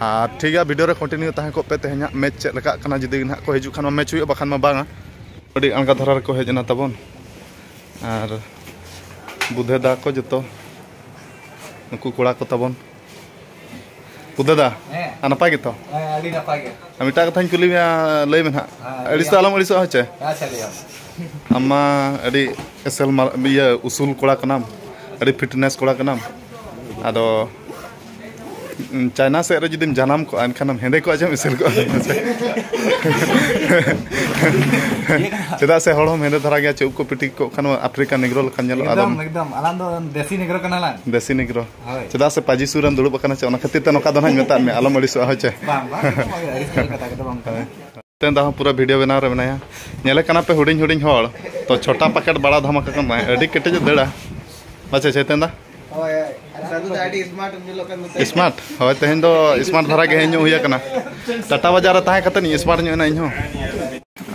ᱟᱨ ᱴᱷᱤᱠ ᱜᱮᱭᱟ ᱵᱷᱤᱰᱤᱭᱳ ᱨᱮ ᱠᱚᱱᱴᱤᱱᱤᱭᱩ ᱛᱟᱦᱮᱸ ᱠᱚᱜ ᱯᱮ ᱛᱮᱦᱮᱧ ᱦᱟᱸᱜ ᱢᱮᱪ ᱪᱮᱫ ᱞᱮᱠᱟᱜ ᱠᱟᱱᱟ ᱡᱩᱫᱤ ᱱᱟᱦᱟᱜ ᱠᱚ ᱦᱤᱡᱩᱜ ᱠᱷᱟᱱ ᱢᱟ ᱢᱮᱪ ᱦᱩᱭᱩᱜᱼᱟ ᱵᱟᱠᱷᱟᱱ ᱢᱟ ᱵᱟᱝᱟ ᱟᱹᱰᱤ ᱟᱬᱜᱟ ᱫᱷᱟᱨᱟ ᱨᱮᱠᱚ ᱦᱮᱡ ᱮᱱᱟ ᱛᱟᱵᱚᱱ ᱟᱨ ᱵᱩᱫᱷᱮ ᱫᱟ ᱠᱚ ᱡᱚᱛᱚ ᱱᱩᱠᱩ ᱠᱚᱲᱟ ᱠᱚ ᱛᱟᱵᱚᱱ ᱵᱩᱫᱷᱮ ᱫᱟ ᱟᱨ ᱱᱟᱯᱟᱭ ᱜᱮᱛᱚ ᱦᱮᱸ ᱟᱹᱰᱤ ᱱᱟᱯᱟᱭ ᱜᱮ ᱟᱨ ᱢᱤᱫᱴᱟᱝ ᱠᱟᱛᱷᱟᱧ ᱠᱩᱞᱤ ᱢᱮᱭᱟ ᱞᱟᱹᱭ ᱢᱮ ᱱᱟᱦᱟᱜ ᱟᱹᱲᱤᱥ ᱫᱚ ᱟᱞᱚᱢ ᱟᱹᱲᱤᱥᱚᱜᱼᱟ ᱦᱚᱪᱮ ᱟᱪᱪᱷᱟ ᱞᱟᱹᱭ ᱟᱢ ᱟᱢ ᱢᱟ ᱟᱹᱰᱤ ᱮᱥᱮᱞ ᱢᱟᱨ- ᱤᱭᱟᱹ ᱩᱥᱩᱞ ᱠᱚᱲᱟ ᱠᱟᱱᱟᱢ ᱟᱹᱰᱤ ᱯᱷᱤᱴᱱᱮᱥ ᱠᱚᱲᱟ ᱠᱟᱱᱟᱢ ᱟᱫᱚ ᱪᱟᱭᱱᱟ ᱥᱮᱫ ᱨᱮ ᱡᱩᱫᱤᱢ ᱡᱟᱱᱟᱢ ᱠᱚᱜᱼᱟ ᱮᱱᱠᱷᱟᱱ ᱦᱮᱸᱫᱮ ᱠᱚᱜᱼᱟ ᱪᱮᱢ ᱮᱥᱮᱞ ᱠᱚᱜᱼᱟ ᱪᱮᱫᱟᱜ ᱥᱮ ᱦᱚᱲ ᱦᱚᱸ ᱦᱮᱸᱫᱮ ᱫᱷᱟᱨᱟ ᱜᱮᱭᱟ ᱪᱮᱫ ᱠᱚ ᱯᱤᱴᱤ ᱠᱚᱜ ᱠᱷᱟᱱ ᱟᱯᱷᱨᱤᱠᱟ ᱱᱤᱜᱨᱚ ᱞᱮᱠᱟ ᱧᱮᱞᱚᱜᱼᱟ ᱟᱫᱚ ᱮᱠᱫᱚᱢ ᱟᱞᱟᱝ ᱫᱚ ᱫᱮᱥᱤ ᱱᱤᱜᱨᱚ ᱠᱟᱱᱟ ᱞᱟᱝ ᱫᱮᱥᱤ ᱱᱤᱜᱨᱚ ᱪᱮᱫᱟᱜ ᱥᱮ ᱯᱟᱡᱤ ᱥᱩᱨ ᱨᱮᱢ ᱫᱩᱲᱩᱵ ᱟᱠᱟᱱᱟ ᱪᱮ ᱚᱱᱟ ᱠᱷᱟᱹᱛᱤᱨ ᱛᱮ ᱱᱚᱝᱠᱟ ᱫᱚ ᱱᱟᱦᱟᱜ ᱢᱮᱛᱟᱫ ᱢᱮ ᱟᱞᱚᱢ ᱟᱹᱲᱤᱥᱚᱜᱼᱟ ᱦᱚᱪᱮ ᱵᱟᱝ ᱵᱟᱝ ᱟᱹᱲᱤᱥ ᱠᱟᱛᱷᱟ ᱠᱚᱫᱚ ᱵᱟᱝ ᱠᱟᱱᱟ ᱛᱮᱱ ᱫᱟᱦᱚᱸ ᱯᱩᱨᱟᱹ ᱵᱷᱤᱰᱤᱭᱳ ᱵᱮᱱᱟᱣ ᱨᱮ ᱢᱮᱱᱟᱭᱟ ᱧᱮᱞᱮ ᱠᱟᱱᱟ ᱯᱮ ᱦᱩᱰᱤᱧ ᱦᱩᱰᱤᱧ ᱦᱚᱲ ᱛᱚ ᱪᱷᱚᱴᱟ ᱯᱟᱠᱮᱴ ᱵᱟᱲᱟ ᱫᱷᱟᱢᱟᱠᱟ ᱠᱟᱱ ᱛᱟᱦᱮᱸ ᱟᱹᱰᱤ ᱠᱮᱴᱮᱡ ᱫᱟᱹᱲᱟ ᱟᱪᱪᱷᱟ ᱪᱮᱛᱮᱱ ᱫᱟ ᱥᱢᱟᱨᱴ ᱦᱳᱭ ᱛᱮᱦᱮᱧ ᱫᱚ ᱥᱢᱟᱨᱴ ᱫᱷᱟᱨᱟ ᱜᱮ ᱦᱮᱡ ᱧᱚᱜ ᱦᱩᱭ ᱟᱠᱟᱱᱟ ᱴᱟᱴᱟ ᱵᱟᱡᱟᱨ ᱨᱮ ᱛᱟᱦᱮᱸ ᱠᱟᱛᱮ ᱤᱧ ᱥᱢᱟᱨᱴ ᱧᱚᱜ ᱮᱱᱟ ᱤᱧᱦᱚᱸ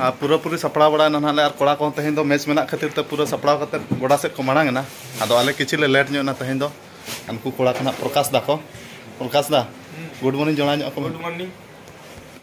ᱟᱨ ᱯᱩᱨᱟᱹ ᱯᱩᱨᱤ ᱥᱟᱯᱲᱟᱣ ᱵᱟᱲᱟ ᱮᱱᱟ ᱱᱟᱦᱟᱜ ᱟᱨ ᱠᱚᱲᱟ ᱠᱚᱦᱚᱸ ᱛᱮᱦᱮᱧ ᱫᱚ ᱢᱮᱪ ᱢᱮᱱᱟᱜ ᱠᱷᱟᱹᱛᱤᱨ ᱛᱮ ᱯᱩᱨᱟᱹ ᱥᱟᱯᱲᱟᱣ ᱠᱟᱛᱮ ᱜᱚᱰᱟ ᱥᱮᱫ ᱠᱚ ᱢᱟᱲᱟᱝ ᱮᱱᱟ ᱟᱫᱚ ᱟᱞᱮ ᱠᱤᱪᱷᱩ ᱞᱮ ᱞᱮᱴ ᱧᱚᱜ ᱮᱱᱟ ᱛᱮᱦᱮᱧ ᱫᱚ ᱩᱱᱠᱩ ᱠᱚᱲᱟ ᱠᱚ ᱱᱟᱦᱟᱜ ᱯᱨᱚᱠᱟᱥ ᱫᱟᱠᱚ ᱯᱨᱚᱠᱟᱥ ᱫᱟ ᱜᱩᱰ ᱢᱚᱨᱱᱤᱝ ᱡᱚᱲᱟ ᱧᱚᱜ ᱠᱚ ᱜᱩᱰ ᱢᱚᱨᱱᱤᱝ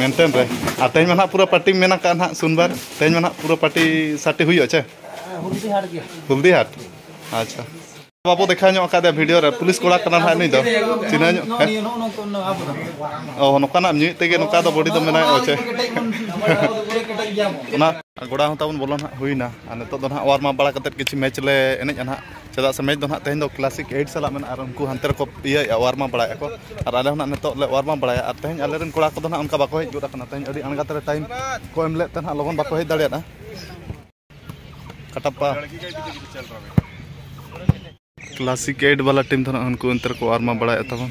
ᱢᱮᱱᱴᱮᱱ ᱨᱮ ᱟᱨ ᱛᱮᱦᱮᱧ ᱢᱟ ᱱᱟᱦᱟᱜ ᱯᱩᱨᱟᱹ ᱯᱟᱨᱴᱤ ᱢᱮᱱ ᱟᱠᱟᱫ ᱱᱟᱦᱟᱜ ᱥᱩᱱᱵᱟᱨ ᱛᱮᱦᱮᱧ ᱢᱟ ᱱᱟᱦᱟᱜ ᱯᱩᱨᱟᱹ ᱯᱟᱨᱴᱤ ᱥᱟᱴᱤ ᱦᱩᱭᱩᱜᱼᱟ ᱪᱮ ᱦᱩᱞᱫᱤ ᱦᱟᱴ ᱟᱪᱪᱷᱟ ᱵᱟᱵᱚ ᱫᱮᱠᱷᱟᱣ ᱧᱚᱜ ᱟᱠᱟᱫᱮᱭᱟ ᱵᱷᱤᱰᱤᱭᱳ ᱨᱮ ᱯᱩᱞᱤᱥ ᱠᱚᱲᱟ ᱠᱟᱱᱟ ᱱᱟᱦᱟᱜ ᱱᱩᱭ ᱫᱚ ᱪᱤᱱᱦᱟᱹ ᱧᱚᱜ ᱚ ᱱᱚᱝᱠᱟᱱᱟᱜ ᱧᱩᱭᱮᱫ ᱛᱮᱜᱮ ᱱᱚᱝᱠᱟ ᱫᱚ ᱵᱚᱰᱤ ᱫᱚ ᱢᱮᱱᱟᱭᱟ ᱪᱮ ᱚᱱᱟ ᱜᱚᱲᱟ ᱦᱚᱸ ᱛᱟᱵᱚᱱ ᱵᱚᱞᱚ ᱱᱟᱦᱟᱜ ᱦᱩᱭᱱᱟ ᱟᱨ ᱱᱤᱛᱚᱜ ᱫᱚ ᱱᱟᱦᱟᱜ ᱚᱣᱟᱨᱢ ᱟᱯ ᱵᱟᱲᱟ ᱠᱟᱛᱮᱫ ᱠᱤᱪᱷᱩ ᱢᱮᱪ ᱞᱮ ᱮᱱᱮᱡᱼᱟ ᱱᱟᱦᱟᱜ ᱪᱮᱫᱟᱜ ᱥᱮ ᱢᱮᱪ ᱫᱚ ᱱᱟᱦᱟᱜ ᱛᱮᱦᱮᱧ ᱫᱚ ᱠᱞᱟᱥᱤᱠ ᱮᱭᱤᱴ ᱥᱟᱞᱟᱜ ᱢᱮᱱᱟᱜᱼᱟ ᱟᱨ ᱩᱱᱠᱩ ᱦᱟᱱᱛᱮ ᱨᱮᱠᱚ ᱤᱭᱟᱹᱭᱮᱫᱼᱟ ᱚᱣᱟᱨᱢ ᱟᱯ ᱵᱟᱲᱟᱭᱮᱫᱼᱟ ᱠᱚ ᱟᱨ ᱟᱞᱮ ᱦᱚᱸ ᱱᱟᱦᱟᱜ ᱱᱤᱛᱚᱜ ᱞᱮ ᱚᱣᱟᱨᱢ ᱟᱯ ᱵᱟᱲᱟᱭᱟ ᱟᱨ ᱛᱮᱦᱮᱧ ᱟᱞᱮ ᱨᱮᱱ ᱠᱚᱲᱟ ᱠᱚᱫᱚ ᱱᱟᱦᱟᱜ ᱚᱱᱠᱟ ᱵᱟᱠᱚ ᱦᱮᱡ ᱜᱚᱫ ᱟᱠᱟᱱᱟ ᱛᱮᱦᱮᱧ ᱟᱹᱰᱤ ᱟᱬᱜᱟᱛ ᱨᱮ ᱴᱟᱭᱤᱢ ᱠᱚ ᱮᱢ ᱞᱮᱫ ᱛᱮ ᱱᱟᱦᱟᱜ ᱞᱚᱜᱚᱱ ᱵᱟᱠᱚ ᱦᱮᱡ ᱫᱟᱲᱮᱭᱟᱫᱼᱟ ᱠᱟᱴᱟᱯᱟ ᱠᱞᱟᱥᱤᱠ ᱮᱭᱤᱴ ᱵᱟᱞᱟ ᱴᱤᱢ ᱫᱚ ᱱᱟᱦᱟᱜ ᱩᱱᱠᱩ ᱚᱱᱛᱮ ᱨᱮᱠᱚ ᱚᱣᱟᱨᱢ ᱟᱯ ᱵᱟᱲᱟᱭᱮᱫ ᱛᱟᱵᱚᱱ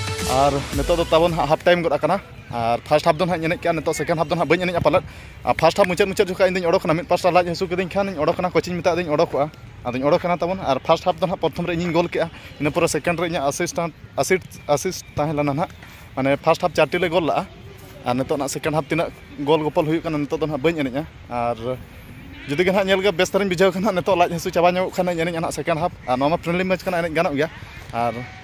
ᱟᱨ ᱱᱤᱛᱚᱜ ᱫᱚ ᱛᱟᱵᱚᱱ ᱦᱟᱸᱜ ᱦᱟᱯ ᱴᱟᱭᱤᱢ ᱜᱚᱫ ᱟᱠᱟᱱᱟ ᱟᱨ ᱯᱷᱟᱥᱴ ᱦᱟᱯ ᱫᱚ ᱦᱟᱸᱜ ᱮᱱᱮᱡ ᱠᱮᱜᱼᱟ ᱱᱤᱛᱚᱜ ᱥᱮᱠᱮᱱᱰ ᱦᱟᱯ ᱫᱚ ᱦᱟᱸᱜ ᱵᱟᱹᱧ ᱮᱱᱮᱡᱼᱟ ᱯᱟᱞᱮᱫ ᱟᱨ ᱯᱷᱟᱥᱴ ᱦᱟᱯ ᱢᱩᱪᱟᱹᱫ ᱢᱩᱪᱟᱹᱫ ᱡᱚᱠᱷᱚᱱ ᱤᱧᱫᱚᱧ ᱚᱰᱚᱠᱮᱱᱟ ᱢᱤᱫ ᱯᱟᱥᱴᱟ ᱞᱟᱡ ᱦᱟᱹᱥᱩ ᱠᱤᱫᱤᱧ ᱠᱷᱟᱱ ᱚᱰᱚᱠᱮᱱᱟ ᱠᱳᱪᱤᱧ ᱢᱮᱛᱟ ᱫᱮᱭᱟ ᱚᱰᱚᱠᱚᱜᱼᱟ ᱟᱫᱚᱧ ᱚᱰᱚᱠᱮᱱᱟ ᱛᱟᱵᱚᱱ ᱟᱨ ᱯᱷᱟᱥᱴ ᱦᱟᱯ ᱫᱚ ᱦᱟᱸᱜ ᱯᱨᱚᱛᱷᱚᱢ ᱨᱮ ᱤᱧᱤᱧ ᱜᱳᱞ ᱠᱮᱜᱼᱟ ᱤᱱᱟᱹ ᱯᱚᱨᱮ ᱥᱮᱠᱮᱱᱰ ᱨᱮ ᱤᱧᱟᱹᱜ ᱟᱥᱤᱥᱴᱮᱱᱴ ᱟᱥᱤᱥ ᱟᱥᱤᱥ ᱛᱟᱦᱮᱸ ᱞᱮᱱᱟ ᱦᱟᱸᱜ ᱢᱟᱱᱮ ᱯᱷᱟᱥᱴ ᱦᱟᱯ ᱪᱟᱨᱴᱤ ᱞᱮ ᱜᱳᱞ ᱞᱟᱜᱼᱟ ᱟᱨ ᱱᱤᱛᱚᱜ ᱱᱟᱦᱟᱜ ᱥᱮᱠᱮᱱᱰ ᱦᱟᱯ ᱛᱤᱱᱟᱹᱜ ᱜᱳᱞ ᱜᱳᱯᱳᱞ ᱦᱩᱭᱩᱜ ᱠᱟᱱᱟ ᱱᱤᱛᱚᱜ ᱫᱚ ᱦᱟᱸᱜ ᱵᱟᱹᱧ ᱮᱱᱮᱡᱼᱟ ᱟᱨ ᱡᱩᱫᱤ ᱜᱮ ᱦᱟᱸᱜ ᱧᱮᱞ ᱜᱮ ᱵᱮᱥ ᱫᱷᱟᱨᱟᱧ ᱵᱩᱡᱷᱟᱹᱣ ᱠᱷᱟᱱ ᱦᱟᱸᱜ ᱱᱤᱛᱚᱜ ᱞᱟᱡ ᱦᱟᱹᱥᱩ ᱪᱟᱵᱟ ᱧᱚᱜᱚᱜ ᱠᱷᱟᱱ ᱮᱱᱮᱡᱼᱟ ᱦᱟᱸᱜ ᱥᱮᱠᱮᱱᱰ ᱦᱟᱯ ᱟᱨ ᱱᱚᱣᱟ ᱢᱟ ᱯᱷᱨᱮᱱᱰᱞᱤ ᱢᱮᱪ ᱠᱟᱱᱟ ᱮᱱᱮᱡ ᱜᱟᱱᱚᱜ ᱜᱮᱭᱟ ᱟᱨ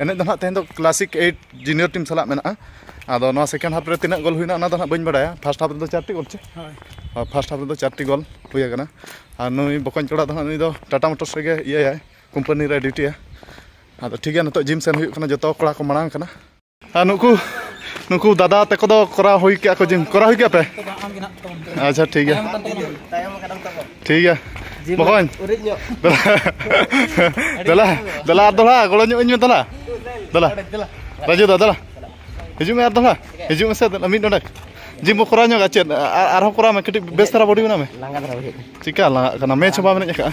ᱮᱱᱮᱡ ᱫᱚ ᱱᱟᱦᱟᱜ ᱛᱮᱦᱮᱧ ᱫᱚ ᱠᱞᱟᱥᱤᱠ ᱮᱭᱤᱴ ᱡᱩᱱᱤᱭᱚᱨ ᱴᱤᱢ ᱥᱟᱞᱟᱜ ᱢᱮᱱᱟᱜᱼᱟ ᱟᱫᱚ ᱱᱚᱣᱟ ᱥᱮᱠᱮᱱᱰ ᱦᱟᱯ ᱨᱮ ᱛᱤᱱᱟᱹᱜ ᱜᱳᱞ ᱦᱩᱭᱱᱟ ᱚᱱᱟ ᱫᱚ ᱱᱟᱦᱟᱜ ᱵᱟᱹᱧ ᱵᱟᱲᱟᱭᱟ ᱯᱷᱟᱥᱴ ᱦᱟᱯ ᱨᱮᱫᱚ ᱪᱟᱨᱴᱤ ᱜᱳᱞ ᱪᱮ ᱦᱳᱭ ᱯᱷᱟᱥᱴ ᱦᱟᱯ ᱨᱮᱫᱚ ᱪᱟᱨᱴᱤ ᱜᱳᱞ ᱦᱩᱭ ᱟᱠᱟᱱᱟ ᱟᱨ ᱱᱩᱭ ᱵᱚᱠᱚᱧ ᱠᱚᱲᱟ ᱫᱚ ᱱᱟᱦᱟᱜ ᱱᱩᱭ ᱫᱚ ᱴᱟᱴᱟ ᱢᱳᱴᱚᱨᱥ ᱨᱮᱜᱮ ᱤᱭᱟᱹᱭᱟᱭ ᱠᱳᱢᱯᱟᱱᱤ ᱨᱮ ᱰᱤᱭᱩᱴᱤᱭᱟ ᱟᱫᱚ ᱴᱷᱤᱠ ᱜᱮᱭᱟ ᱱᱤᱛᱚᱜ ᱡᱤᱢ ᱥᱮᱱ ᱦᱩᱭᱩᱜ ᱠᱟᱱᱟ ᱡᱚᱛᱚ ᱠᱚᱲᱟ ᱠᱚ ᱢᱟᱲᱟᱝ ᱠᱟᱱᱟ ᱟᱨ ᱱᱩᱠᱩ ᱱᱩᱠᱩ ᱫᱟᱫᱟ ᱛᱟᱠᱚ ᱫᱚ ᱠᱚᱨᱟᱣ ᱦᱩᱭ ᱠᱮᱜᱼᱟ ᱠᱚ ᱡᱤᱢ ᱠᱚᱨᱟᱣ ᱦᱩᱭ ᱠᱮᱜᱼᱟ ᱯᱮ ᱟᱪᱪᱷᱟ ᱴᱷᱤᱠ ᱜᱮᱭᱟ ᱴᱷᱤᱠ ᱜᱮᱭᱟ ᱵᱚᱠᱚᱧ ᱫᱮᱞᱟ ᱫᱮᱞᱟ ᱟᱨ ᱫᱚᱦᱲᱟ ᱜᱚᱲᱚ ᱧᱚᱜ ᱤᱧ ᱢᱮ ᱫᱮᱞᱟ ᱫᱮᱞᱟ ᱨᱟᱡᱩ ᱫᱟ ᱫᱮᱞᱟ ᱦᱤᱡᱩᱜ ᱢᱮ ᱟᱨ ᱫᱚᱦᱲᱟ ᱦᱤᱡᱩᱜ ᱢᱮᱥᱮ ᱢᱤᱫ ᱱᱚᱰᱮ ᱡᱤᱢ ᱵᱚ ᱠᱚᱨᱟᱣ ᱧᱚᱜᱟ ᱪᱮᱫ ᱟᱨᱦᱚᱸ ᱠᱚᱨᱟᱣ ᱢᱮ ᱠᱟᱹᱴᱤᱡ ᱵᱮᱥ ᱫᱷᱟᱨᱟ ᱵᱚᱰᱤ ᱵᱮᱱᱟᱣ ᱢᱮ ᱪᱤᱠᱟ ᱞᱟᱸᱜᱟᱜ ᱠᱟᱱᱟ ᱢᱮᱪ ᱦᱚᱸ ᱵᱟᱢ ᱮᱱᱮᱡ ᱟᱠᱟᱫᱼᱟ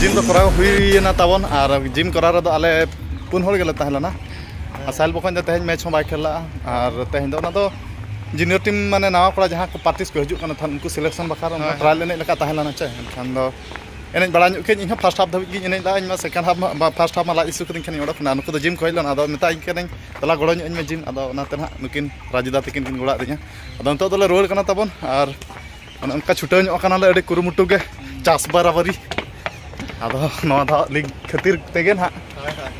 ᱡᱤᱢ ᱫᱚ ᱠᱚᱨᱟᱣ ᱦᱩᱭᱮᱱᱟ ᱛᱟᱵᱚᱱ ᱟᱨ ᱡᱤᱢ ᱠᱚᱨᱟᱣ ᱨᱮᱫᱚ ᱟᱞᱮ ᱯᱩᱱ ᱦᱚᱲ ᱜᱮᱞᱮ ᱛᱟᱦᱮᱸ ᱞᱮᱱᱟ ᱟᱨ ᱥᱟᱦᱮᱞ ᱵᱚᱠᱚᱧ ᱫᱚ ᱛᱮᱦᱮᱧ ᱢᱮᱪ ᱦᱚᱸ ᱵᱟᱭ ᱠᱷᱮᱞ ᱞᱟᱜᱼᱟ ᱟᱨ ᱛᱮᱦᱮᱧ ᱫᱚ ᱚᱱᱟ ᱫᱚ ᱡᱩᱱᱤᱭᱚᱨ ᱴᱤᱢ ᱢᱟᱱᱮ ᱱᱟᱣᱟ ᱠᱚᱲᱟ ᱡᱟᱦᱟᱸ ᱠᱚ ᱯᱨᱮᱠᱴᱤᱥ ᱠᱚ ᱦᱤᱡᱩᱜ ᱠᱟᱱᱟ ᱛᱟᱦᱮᱸᱫ ᱩᱱᱠᱩ ᱥᱤᱞᱮᱠᱥᱚᱱ ᱵᱟᱠᱷᱨᱟ ᱚᱱᱟ ᱴᱨᱟᱭᱮᱞ ᱮᱱᱮᱡ ᱞᱮᱠᱟ ᱛᱟᱦᱮᱸ ᱞᱮᱱᱟ ᱪᱮ ᱮᱱᱠᱷᱟᱱ ᱫᱚ ᱮᱱᱮᱡ ᱵᱟᱲᱟ ᱧᱚᱜ ᱠᱮᱫ ᱤᱧ ᱦᱚᱸ ᱯᱷᱟᱥᱴ ᱦᱟᱯ ᱫᱷᱟᱹᱵᱤᱡ ᱜᱤᱧ ᱮᱱᱮᱡ ᱞᱮᱫᱟ ᱤᱧ ᱢᱟ ᱥᱮᱠᱮᱱᱰ ᱦᱟᱯ ᱢᱟ ᱯᱷᱟᱥᱴ ᱦᱟᱯ ᱢᱟ ᱞᱟᱡ ᱤᱥᱩ ᱠᱟᱹᱫᱤᱧ ᱠᱷᱟᱱ ᱚᱰᱚᱠ ᱮᱱᱟ ᱱᱩᱠᱩ ᱫᱚ ᱡᱤᱢ ᱠᱚ ᱦᱮᱡ ᱞᱮᱱᱟ ᱟᱫᱚ ᱢᱮᱛᱟᱭ ᱠᱟᱹᱱᱟᱹᱧ ᱫᱮᱞᱟ ᱜᱚᱲᱚ ᱧᱚᱜ ᱟᱹᱧ ᱢᱮ ᱡᱤᱢ ᱟᱫᱚ ᱚᱱᱟᱛᱮ ᱱᱟᱦᱟᱜ ᱱᱩᱠᱤᱱ ᱨᱟᱡᱩᱫᱟ ᱛᱟᱹᱠᱤᱱ ᱠᱤᱱ ᱜᱚᱲᱚᱣᱟᱜ ᱫᱤᱧᱟ ᱟᱫᱚ ᱱᱤᱛᱚᱜ ᱫᱚᱞᱮ ᱨᱩᱣᱟᱹᱲ ᱠᱟᱱᱟ ᱛᱟᱵᱚᱱ ᱟᱨ ᱚᱱᱮ ᱚᱱᱠᱟ ᱪᱷᱩᱴᱟᱹᱣ ᱧᱚᱜ ᱠᱟᱱᱟᱞᱮ ᱟᱹᱰᱤ ᱠᱩᱨᱩᱢᱩᱴᱩ ᱜᱮ ᱪᱟᱥ ᱵᱟᱨᱟᱵᱟᱨᱤ ᱟᱫᱚ ᱱᱚᱣᱟ ᱫᱚ ᱞᱤᱜᱽ ᱠᱷᱟᱹᱛᱤᱨ ᱛᱮᱜᱮ ᱱᱟᱦᱟᱜ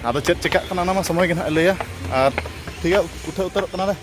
ᱟᱫᱚ ᱪᱮᱫ ᱪᱮᱠᱟᱜ ᱠᱟᱱᱟ ᱚᱱᱟ ᱢᱟ ᱥᱚᱢᱚᱭ ᱜᱮ ᱱᱟᱦᱟᱜ ᱞᱟᱹᱭᱟ ᱟᱨ ᱴᱷᱤᱠ ᱜᱮᱭᱟ ᱩᱴᱷᱟᱹᱣ ᱩᱛᱟᱹᱨᱚᱜ ᱠᱟᱱᱟᱞᱮ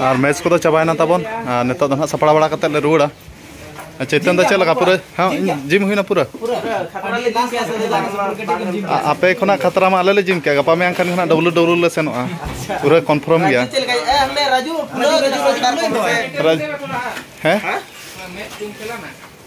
ᱟᱨ ᱢᱮᱪ ᱠᱚᱫᱚ ᱪᱟᱵᱟᱭᱮᱱᱟ ᱛᱟᱵᱚᱱ ᱟᱨ ᱱᱤᱛᱚᱜ ᱫᱚ ᱱᱟᱦᱟᱜ ᱥᱟᱯᱲᱟᱣ ᱵᱟᱲᱟ ᱠᱟᱛᱮᱫ ᱞᱮ ᱨᱩᱣᱟᱹᱲᱟ ᱪᱮᱛᱟᱱ ᱫᱚ ᱪᱮᱫ ᱞᱮᱠᱟ ᱯᱩᱨᱟᱹ ᱦᱮᱸ ᱡᱤᱢ ᱦᱩᱭᱱᱟ ᱯᱩᱨᱟᱹ ᱟᱯᱮ ᱠᱷᱚᱱᱟᱜ ᱠᱷᱟᱛᱨᱟ ᱢᱟ ᱟᱞᱮ ᱞᱮ ᱡᱤᱢ ᱠᱮᱜᱼᱟ ᱜᱟᱯᱟ ᱢᱮᱭᱟᱝ ᱠᱷᱟᱱ ᱜᱮ ᱱᱟᱦᱟᱜ ᱰᱟᱵᱞᱩ ᱰᱟᱵᱞᱩ ᱞᱮ ᱥᱮᱱᱚᱜᱼᱟ ᱯᱩᱨᱟᱹ ᱠᱚᱱᱯᱷᱟᱨᱢ ᱜᱮᱭᱟ ᱦᱮᱸ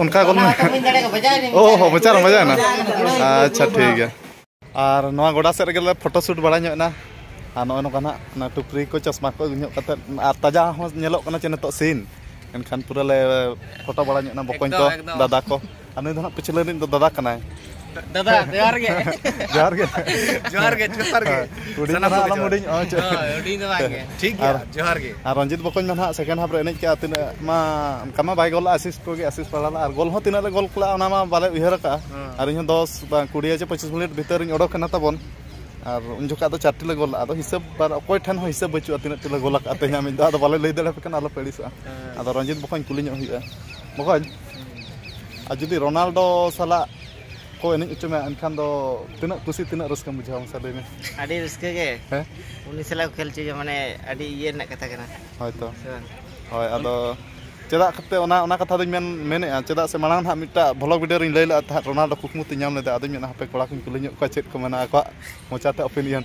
ᱚᱱᱠᱟ ᱠᱚ ᱚ ᱦᱚᱸ ᱢᱚᱪᱟ ᱨᱮ ᱢᱚᱡᱟ ᱮᱱᱟ ᱟᱪᱪᱷᱟ ᱴᱷᱤᱠ ᱜᱮᱭᱟ ᱟᱨ ᱱᱚᱣᱟ ᱜᱚᱰᱟ ᱥᱮᱫ ᱨᱮᱜᱮ ᱞᱮ ᱯᱷᱳᱴᱳ ᱥᱩᱴ ᱵᱟᱲᱟ ᱧᱚᱜ ᱮᱱᱟ ᱟᱨ ᱱᱚᱜᱼᱚᱭ ᱱᱚᱝᱠᱟ ᱱᱟᱜ ᱚᱱᱟ ᱴᱩᱯᱨᱤ ᱠᱚ ᱪᱚᱥᱢᱟ ᱠᱚ ᱟᱹᱜᱩ ᱧᱚᱜ ᱠᱟᱛᱮᱫ ᱟᱨ ᱛᱟᱡᱟ ᱦᱚᱸ ᱧᱮᱞᱚᱜ ᱠᱟᱱᱟ ᱪᱮ ᱱᱤᱛᱚᱜ ᱥᱤᱱ ᱮᱱᱠᱷᱟᱱ ᱯᱩᱨᱟᱹ ᱞᱮ ᱯᱷᱳᱴᱳ ᱵᱟᱲᱟ ᱧᱚᱜ ᱮᱱᱟ ᱵᱚᱠᱚᱧ ᱠᱚ ᱫᱟᱫᱟ ᱠᱚ ᱟᱨ ᱱᱩᱭ ᱫᱚ ᱦᱟᱸᱜ ᱯᱤᱪᱷᱞᱟᱹ ᱨᱤᱱᱤᱡ ᱫᱚ ᱫᱟᱫᱟ ᱠᱟᱱᱟᱭ ᱫᱟᱫᱟ ᱡᱚᱦᱟᱨ ᱜᱮ ᱡᱚᱦᱟᱨ ᱜᱮ ᱡᱚᱦᱟᱨ ᱜᱮ ᱡᱚᱦᱟᱨ ᱜᱮ ᱦᱩᱰᱤᱧ ᱫᱚ ᱟᱞᱚᱢ ᱦᱩᱰᱤᱧ ᱚᱜᱼᱟ ᱪᱮᱫ ᱦᱩᱰᱤᱧ ᱫᱚ ᱵᱟᱝ ᱜᱮ ᱴᱷᱤᱠ ᱜᱮᱭᱟ ᱡᱚᱦᱟᱨ ᱜᱮ ᱟᱨ ᱨᱚᱧᱡᱤᱛ ᱵᱚᱠᱚᱧ ᱢᱟ ᱱᱟᱦᱟᱜ ᱥᱮᱠᱮᱱᱰ ᱦᱟᱯ ᱨᱮ ᱮᱱᱮᱡ ᱠᱟᱜᱼᱟ ᱛᱤᱱᱟᱹᱜ ᱢᱟ ᱚᱱᱠᱟ ᱢᱟ ᱵᱟᱭ ᱜᱚᱞᱟ ᱟᱥᱤᱥ ᱠᱚᱜᱮ ᱟᱥᱤᱥ ᱯᱟᱲᱟᱣ ᱞᱮᱫᱟ ᱟᱨ ᱜᱚᱞ ᱦᱚᱸ ᱛᱤᱱᱟᱹᱜ ᱞᱮ ᱜᱚᱞ ᱠᱮᱫᱟ ᱚᱱᱟ ᱢᱟ ᱵᱟᱞᱮ ᱩᱭᱦᱟᱹᱨ ᱟᱠᱟᱫᱼᱟ ᱟᱨ ᱤᱧ ᱦᱚᱸ ᱫᱚᱥ ᱵᱟᱝ ᱠᱩᱲᱤ ᱪᱮ ᱯᱚᱸᱪᱤᱥ ᱢᱤᱱᱤᱴ ᱵᱷᱤᱛᱟᱹᱨ ᱤᱧ ᱚᱰᱚᱠ ᱮᱱᱟ ᱛᱟᱵᱚᱱ ᱟᱨ ᱩᱱ ᱡᱚᱠᱷᱟᱡ ᱫᱚ ᱪᱟᱨᱴᱤ ᱞᱮ ᱜᱚᱞ ᱟᱫᱚ ᱦᱤᱥᱟᱹᱵ ᱟᱨ ᱚᱠᱚᱭ ᱴᱷᱮᱱ ᱦᱚᱸ ᱦᱤᱥᱟᱹᱵ ᱵᱟᱹᱪᱩᱜᱼᱟ ᱛᱤᱱᱟᱹᱜ ᱴᱤ ᱞᱮ ᱜᱚᱞ ᱟᱠᱟᱫᱼᱟ ᱛᱮᱦᱮᱧᱟᱜ ᱢᱤᱫ ᱫᱷᱟᱣ ᱟᱫᱚ ᱵᱟᱞᱮ ᱞᱟᱹᱭ ᱫᱟᱲᱮᱭᱟᱯᱮ ᱠᱟᱱᱟ ᱟᱞᱚᱯᱮ ᱟᱹᱲᱤᱥᱚᱜᱼᱟ ᱟᱫᱚ ᱨᱚᱧᱡᱤᱛ ᱵᱚᱠᱚᱧ ᱠᱩᱞᱤ ᱧᱚᱜ ᱦᱩᱭᱩᱜᱼᱟ ᱵᱚᱠᱚᱧ ᱟᱨ ᱡᱩᱫᱤ ᱨᱳᱱᱟᱞᱰᱳ ᱥᱟᱞᱟᱜ ᱠᱚ ᱮᱱᱮᱡ ᱦᱚᱪᱚ ᱢᱮᱭᱟ ᱮᱱᱠᱷᱟᱱ ᱫᱚ ᱛᱤᱱᱟᱹᱜ ᱠᱩᱥᱤ ᱛᱤᱱᱟᱹᱜ ᱨᱟᱹᱥᱠᱟᱹᱢ ᱵᱩᱡᱷᱟᱹᱣᱟ ᱢᱟᱥᱮ ᱞᱟᱹᱭ ᱢᱮ ᱟᱹᱰᱤ ᱨᱟᱹᱥᱠᱟᱹ ᱜᱮ ᱦᱮᱸ ᱩᱱᱤ ᱥᱟᱞᱟᱜ ᱠᱚ ᱠᱷᱮᱞ ᱦᱚᱪᱚᱭᱟ ᱢᱟᱱᱮ ᱟᱹᱰᱤ ᱤᱭᱟᱹ ᱨᱮᱱᱟᱜ ᱠᱟᱛᱷᱟ ᱠᱟᱱᱟ ᱦᱳᱭ ᱛᱚ ᱥᱮ ᱵᱟᱝ ᱦᱳᱭ ᱟᱫᱚ ᱪᱮᱫᱟᱜ ᱠᱟᱛᱮ ᱚᱱᱟ ᱚᱱᱟ ᱠᱟᱛᱷᱟ ᱫᱚᱧ ᱢᱮᱱ ᱢᱮᱱᱮᱫᱼᱟ ᱪᱮᱫᱟᱜ ᱥᱮ ᱢᱟᱲᱟᱝ ᱦᱟᱸᱜ ᱢᱤᱫᱴᱟᱜ ᱵᱷᱚᱞᱚᱜᱽ ᱵᱷᱤᱰᱤᱭᱳ ᱨᱮᱧ ᱞᱟᱹᱭ ᱞᱮᱫᱼᱟ ᱛᱟᱦᱮᱸᱫ ᱨᱳᱱᱟᱞᱰᱳ ᱠᱩᱠᱢᱩ ᱛᱤᱧ ᱧᱟᱢ ᱞᱮᱫᱟ ᱟᱫᱚᱧ ᱢᱮᱱᱮᱫᱼᱟ ᱦᱟᱯᱮ ᱠᱚᱲᱟ ᱠᱚᱧ ᱠᱩᱞᱤ ᱧᱚᱜ ᱠᱚᱣᱟ ᱪᱮᱫ ᱠᱚ ᱢᱮᱱᱟ ᱟᱠᱚᱣᱟᱜ ᱢᱚᱪᱟᱛᱮ ᱚᱯᱤᱱᱤᱭᱚᱱ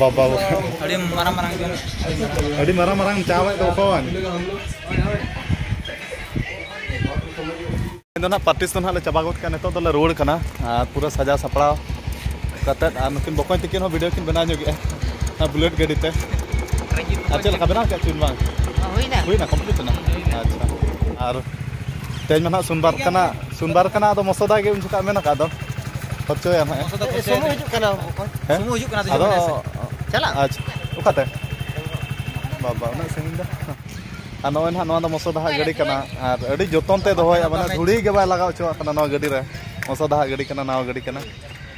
ᱵᱟᱵᱟ ᱟᱹᱰᱤ ᱢᱟᱨᱟᱝ ᱢᱟᱨᱟᱝ ᱟᱹᱰᱤ ᱢᱟᱨᱟᱝ ᱢᱟᱨᱟᱝ ᱪᱟᱣᱮᱫ ᱫᱚ ᱚᱠᱚᱭ ᱫᱚ ᱱᱟᱜ ᱯᱟᱨᱴᱤᱥ ᱫᱚ ᱱᱟᱜ ᱞᱮ ᱪᱟᱵᱟ ᱜᱚᱫ ᱠᱟᱜᱼᱟ ᱱᱤᱛᱚᱜ ᱫᱚᱞᱮ ᱨᱩᱣᱟᱹᱲ ᱠᱟᱱᱟ ᱟᱨ ᱯᱩᱨᱟᱹ ᱥᱟᱡᱟᱣ ᱥᱟᱯᱲᱟᱣ ᱠᱟᱛᱮᱫ ᱟᱨ ᱱᱩᱠᱤᱱ ᱵᱚᱠᱚᱧ ᱛᱤᱠᱤᱱ ᱦᱚᱸ ᱵᱷᱤᱰᱤᱭᱳ ᱠᱤᱱ ᱵᱮᱱᱟᱣ ᱧᱚᱜᱮᱜᱼᱟ ᱚᱱᱟ ᱵᱩᱞᱮᱴ ᱜᱟᱹᱰᱤ ᱛᱮ ᱟᱨ ᱪᱮᱫ ᱞᱮᱠᱟ ᱵᱮᱱᱟᱣ ᱠᱮᱫ ᱪᱩᱱ ᱵᱟᱝ ᱦᱩᱭᱱᱟ ᱦᱩᱭᱱᱟ ᱠᱚᱢᱯᱞᱤᱴ ᱮᱱᱟ ᱟᱪᱪᱷᱟ ᱟᱨ ᱛᱮᱦᱮᱧ ᱢᱟ ᱱᱟᱜ ᱥᱳᱢᱵᱟᱨ ᱠᱟᱱᱟ ᱥᱩᱱᱵᱟᱨ ᱠᱟᱱᱟ ᱟᱫᱚ ᱢᱚᱥᱚᱫᱟ ᱜᱮ ᱩᱱ ᱡᱚᱠᱷᱟᱜ ᱢᱮᱱ ᱟᱠᱟᱫ ᱫᱚ ᱠᱷᱚᱨᱪᱚᱭᱟ ᱱᱟᱦᱟᱜ ᱢᱚᱥᱚᱫᱟ ᱠᱷᱚᱨᱪᱚᱭᱟ ᱥᱩᱢᱩ ᱦᱤᱡᱩᱜ ᱠᱟᱱᱟ ᱵᱚᱠᱚᱧ ᱥᱩᱢᱩ ᱦᱤᱡᱩᱜ ᱠᱟᱱᱟ ᱟᱫᱚ ᱪᱟᱞᱟᱜ ᱟᱪᱪᱷᱟ ᱚᱠᱟᱛᱮ ᱵᱟᱵᱟ ᱩᱱᱟᱹᱜ ᱥᱟᱺᱜᱤᱧ ᱫᱚ ᱟᱨ ᱱᱚᱜᱼᱚᱭ ᱱᱟᱦᱟᱜ ᱱᱚᱣᱟ ᱫᱚ ᱢᱚᱥᱚᱫᱟ ᱦᱟᱜ ᱜᱟᱹᱰᱤ ᱠᱟᱱᱟ ᱟᱨ ᱟᱹᱰᱤ ᱡᱚᱛᱚᱱ ᱛᱮ ᱫᱚᱦᱚᱭᱟ ᱢᱟᱱᱮ ᱫᱷᱩᱲᱤ ᱜᱮ ᱵᱟᱭ ᱞᱟᱜᱟᱣ ᱦᱚᱪᱚᱣᱟᱜ ᱠᱟᱱᱟ ᱱᱚᱣᱟ ᱜᱟᱹᱰᱤ ᱨᱮ ᱢᱚᱥᱚᱫᱟ ᱦᱟᱜ ᱜᱟᱹᱰᱤ ᱠᱟᱱᱟ ᱱᱟᱣᱟ ᱜᱟᱹᱰᱤ ᱠᱟᱱᱟ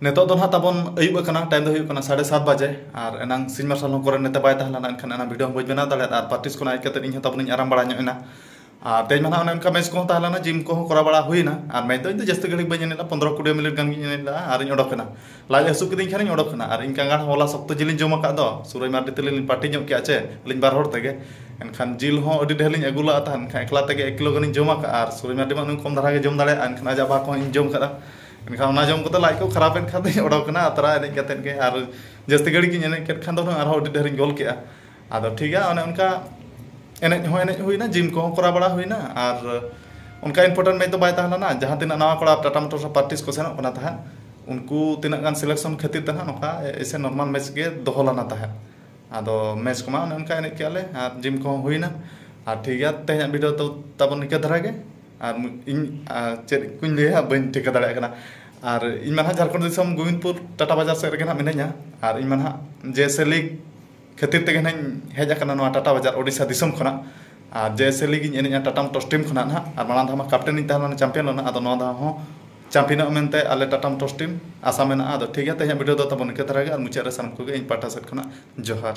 ᱱᱤᱛᱚᱜ ᱫᱚ ᱱᱟᱦᱟᱜ ᱛᱟᱵᱚᱱ ᱟᱹᱭᱩᱵ ᱟᱠᱟᱱᱟ ᱴᱟᱭᱤᱢ ᱫᱚ ᱦᱩᱭᱩᱜ ᱠᱟᱱᱟ ᱥᱟᱲᱮ ᱥᱟᱛ ᱵᱟᱡᱮ ᱟᱨ ᱮᱱᱟᱝ ᱥᱤᱧ ᱢᱟᱨᱥᱟᱞ ᱦᱚᱸ ᱠᱚᱨᱮᱱ ᱱᱮᱛᱮ ᱵᱟᱭ ᱛᱟᱦᱮᱸ ᱞᱮᱱᱟ ᱮᱱᱠᱷᱟᱱ ᱮᱱᱟᱝ ᱵᱷᱤᱰᱤᱭᱳ ᱦᱚᱸ ᱵᱟᱹᱧ ᱵᱮᱱᱟᱣ ᱫᱟᱲᱮᱭᱟᱫᱟ ᱟᱨ ᱯᱨᱮᱠᱴᱤᱥ ᱠᱷᱚᱱ ᱦᱮᱡ ᱠᱟᱛᱮ ᱤᱧ ᱦᱚᱸ ᱛᱟᱵᱚᱱᱤᱧ ᱟᱨᱟᱢ ᱵᱟᱲᱟ ᱧᱚᱜ ᱮᱱᱟ ᱟᱨ ᱛᱮᱦᱮᱧ ᱢᱟ ᱱᱟᱦᱟᱜ ᱚᱱᱮ ᱚᱱᱠᱟ ᱢᱮᱪ ᱠᱚᱦᱚᱸ ᱛᱟᱦᱮᱸ ᱞᱮᱱᱟ ᱡᱤᱢ ᱠᱚᱦᱚᱸ ᱠᱚᱨᱟᱣ ᱵᱟᱲᱟ ᱦᱩᱭᱱᱟ ᱟᱨ ᱢᱮᱪ ᱫᱚ ᱤᱧ ᱫᱚ ᱡᱟᱹᱥᱛᱤ ᱜᱷᱟᱹᱲᱤᱡ ᱵᱟᱹᱧ ᱮᱱᱮᱡ ᱞᱮᱫᱟ ᱯᱚᱱᱫᱨᱚ ᱠᱩᱲᱤ ᱢᱤᱱᱤᱴ ᱜᱟᱱ ᱜᱤᱧ ᱮᱱᱮᱡ ᱞᱮᱫᱟ ᱟᱨᱤᱧ ᱚᱰᱚᱠ ᱮᱱᱟ ᱞᱟᱡ ᱦᱟᱹᱥᱩ ᱠᱤᱫᱤᱧ ᱠᱷᱟᱱᱤᱧ ᱚᱰᱚᱠ ᱮᱱᱟ ᱟᱨ ᱤᱧ ᱠᱟᱸᱜᱟᱲ ᱦᱚᱸ ᱦᱚᱞᱟ ᱥᱚᱠᱛᱚ ᱡᱤᱞᱤᱧ ᱡᱚᱢ ᱟᱠᱟᱫ ᱫᱚ ᱥᱩᱨᱟᱹᱭ ᱢᱟᱨᱰᱤ ᱛᱟᱹᱞᱤᱧ ᱞᱤᱧ ᱯᱟᱹᱴᱤ ᱧᱚᱜ ᱠᱮᱫᱼᱟ ᱪᱮ ᱟᱹᱞᱤᱧ ᱵᱟᱨ ᱦᱚᱲ ᱛᱮᱜᱮ ᱮᱱᱠᱷᱟᱱ ᱡᱤᱞ ᱦᱚᱸ ᱟᱹᱰᱤ ᱰᱷᱮᱨ ᱞᱤᱧ ᱟᱹᱜᱩ ᱞᱟᱜᱼᱟ ᱛᱟᱦᱮᱸᱫ ᱮᱱᱠᱷᱟᱱ ᱮᱠᱞᱟ ᱛᱮᱜᱮ ᱮᱠ ᱠᱤᱞᱳ ᱜᱟᱱᱤᱧ ᱡᱚᱢ ᱟᱠᱟᱫᱼᱟ ᱟᱨ ᱥᱩᱨᱟᱹᱭ ᱢᱟᱨᱰᱤ ᱢᱟ ᱩᱱᱤ ᱠᱚᱢ ᱫᱷᱟᱨᱟ ᱜᱮᱭ ᱡᱚᱢ ᱫᱟᱲᱮᱭᱟᱜᱼᱟ ᱮᱱᱠᱷᱟᱱ ᱟᱡᱟᱜ ᱵᱷᱟᱜᱽ ᱦᱚᱸ ᱤᱧ ᱡᱚᱢ ᱟᱠᱟᱫᱼᱟ ᱮᱱᱠᱷᱟᱱ ᱚᱱᱟ ᱡᱚᱢ ᱠᱟᱛᱮ ᱞᱟᱡ ᱠᱚ ᱠᱷᱟᱨᱟᱯ ᱮᱱ ᱠᱷᱟᱱ ᱫᱚᱧ ᱚᱰᱚᱠ ᱮᱱᱟ ᱟᱛᱨᱟ ᱮᱱᱮᱡ ᱠᱟᱛᱮ ᱜᱮ ᱟᱨ ᱡᱟᱹᱥᱛᱤ ᱜᱷᱟᱹᱲᱤᱡ ᱜᱤᱧ ᱮᱱᱮᱡ ᱠᱮᱫ ᱠᱷᱟᱱ ᱫᱚ ᱦᱩᱱᱟᱹᱝ ᱟᱨᱦᱚᱸ ᱟᱹᱰᱤ ᱰᱷᱮᱨ ᱤᱧ ᱜᱳᱞ ᱠᱮᱜᱼᱟ ᱟᱫᱚ ᱴᱷᱤᱠ ᱜᱮᱭᱟ ᱚᱱᱮ ᱚᱱᱠᱟ ᱮᱱᱮᱡ ᱦᱚᱸ ᱮᱱᱮᱡ ᱦᱩᱭᱱᱟ ᱡᱤᱢ ᱠᱚᱦᱚᱸ ᱠᱚᱨᱟᱣ ᱵᱟᱲᱟ ᱦᱩᱭᱱᱟ ᱟᱨ ᱚᱱᱠᱟ ᱤᱱᱯᱳᱨᱴᱮᱱᱴ ᱢᱮᱪ ᱫᱚ ᱵᱟᱭ ᱛᱟᱦᱮᱸ ᱞᱮᱱᱟ ᱡᱟᱦᱟᱸ ᱛᱤᱱᱟᱹᱜ ᱱᱟᱣᱟ ᱠᱚᱲᱟ ᱴᱟᱴᱟ ᱢᱳᱴᱚᱨᱥ ᱨᱮᱱ ᱯᱨᱮᱠᱴᱤᱥ ᱠᱚ ᱥᱮᱱᱚᱜ ᱠᱟᱱᱟ ᱛᱟᱦᱮᱸᱫ ᱩᱱᱠᱩ ᱛᱤᱱᱟᱹᱜ ᱜᱟᱱ ᱥᱤᱞᱮᱠᱥᱚᱱ ᱠᱷᱟᱹᱛᱤᱨ ᱛᱮ ᱦᱟᱸᱜ ᱱᱚᱝᱠᱟ ᱮᱭᱥᱮ ᱱᱚᱨᱢᱟᱞ ᱢᱮᱪ ᱜᱮ ᱫᱚᱦᱚ ᱞᱮᱱᱟ ᱛᱟᱦᱮᱸᱫ ᱟᱫᱚ ᱢᱮᱪ ᱠᱚᱢᱟ ᱚᱱᱮ ᱚᱱᱠᱟ ᱮᱱᱮᱡ ᱠᱮᱜᱼᱟ ᱞᱮ ᱟᱨ ᱡᱤᱢ ᱠᱚᱦᱚᱸ ᱦᱩᱭᱱᱟ ᱟᱨ ᱴᱷᱤᱠ ᱜᱮᱭᱟ ᱛᱮᱦᱮᱧᱟᱜ ᱵᱷᱤᱰᱤᱭᱳ ᱫᱚ ᱛᱟᱵᱚᱱ ᱱᱤᱝᱠᱟᱹ ᱫᱷᱟᱨᱟ ᱜᱮ ᱟᱨ ᱤᱧ ᱪᱮᱫ ᱠᱚᱧ ᱞᱟᱹᱭᱟ ᱵᱟᱹᱧ ᱴᱷᱤᱠᱟᱹ ᱫᱟᱲᱮᱭᱟᱜ ᱠᱟᱱᱟ ᱟᱨ ᱤᱧ ᱢᱟ ᱦᱟᱸᱜ ᱡᱷᱟᱲᱠᱷᱚᱸᱰ ᱫᱤᱥᱚᱢ ᱜᱳᱵᱤᱱᱫᱽᱯᱩᱨ ᱴᱟᱴᱟ ᱵᱟᱡᱟᱨ ᱥᱮᱫ ᱨᱮᱜᱮ ᱦᱟᱸᱜ ᱢᱤᱱᱟᱹᱧᱟ ᱟᱨ ᱤᱧ ᱢᱟ ᱦᱟᱸᱜ ᱡᱮ ᱮᱥ ᱮᱞ ᱤ ᱠᱷᱟᱹᱛᱤᱨ ᱛᱮᱜᱮ ᱦᱟᱸᱜ ᱤᱧ ᱦᱮᱡ ᱟᱠᱟᱱᱟ ᱱᱚᱣᱟ ᱴᱟᱴᱟ ᱵᱟᱡᱟᱨ ᱳᱰᱤᱥᱟ ᱫᱤᱥᱚᱢ ᱠᱷᱚᱱᱟᱜ ᱟᱨ ᱡᱮ ᱮᱥ ᱮᱞ ᱤ ᱜᱤᱧ ᱮᱱᱮᱡᱼᱟ ᱴᱟᱴᱟ ᱢᱳᱴᱚᱨᱥ ᱴᱤᱢ ᱠᱷᱚᱱᱟᱜ ᱦᱟᱸᱜ ᱟᱨ ᱢᱟᱲᱟᱝ ᱫᱷᱟᱣ ᱢᱟ ᱠᱮᱯᱴᱮᱱ ᱤᱧ ᱛᱟᱦᱮᱸ ᱞᱮᱱᱟ ᱪᱟᱢᱯᱤᱭᱟᱱ ᱞᱮᱱᱟ ᱟᱫᱚ ᱱᱚᱣᱟ ᱫᱷᱟᱣ ᱦᱚᱸ ᱪᱟᱢᱯᱤᱭᱟᱱᱚᱜᱼᱟ ᱢᱮᱱᱛᱮ ᱟᱞᱮ ᱴᱟᱴᱟ ᱢᱳᱴᱚᱨᱥ ᱴᱤᱢ ᱟᱥᱟ ᱢᱮᱱᱟᱜᱼᱟ ᱟᱫᱚ ᱴᱷᱤᱠ ᱜᱮᱭᱟ ᱛᱮᱦᱮᱧᱟᱜ ᱵᱷᱤᱰᱤᱭᱳ ᱫᱚ ᱛᱟᱵᱚᱱ ᱤᱱᱠᱟᱹ ᱫᱷᱟᱨᱟ ᱜᱮ ᱟᱨ ᱢᱩᱪᱟᱹᱫ ᱨᱮ ᱥᱟᱱᱟᱢ ᱠᱚᱜᱮ ᱤᱧ ᱯᱟᱦᱴᱟ ᱥᱮᱫ ᱠᱷᱚᱱᱟᱜ ᱡᱚᱦᱟᱨ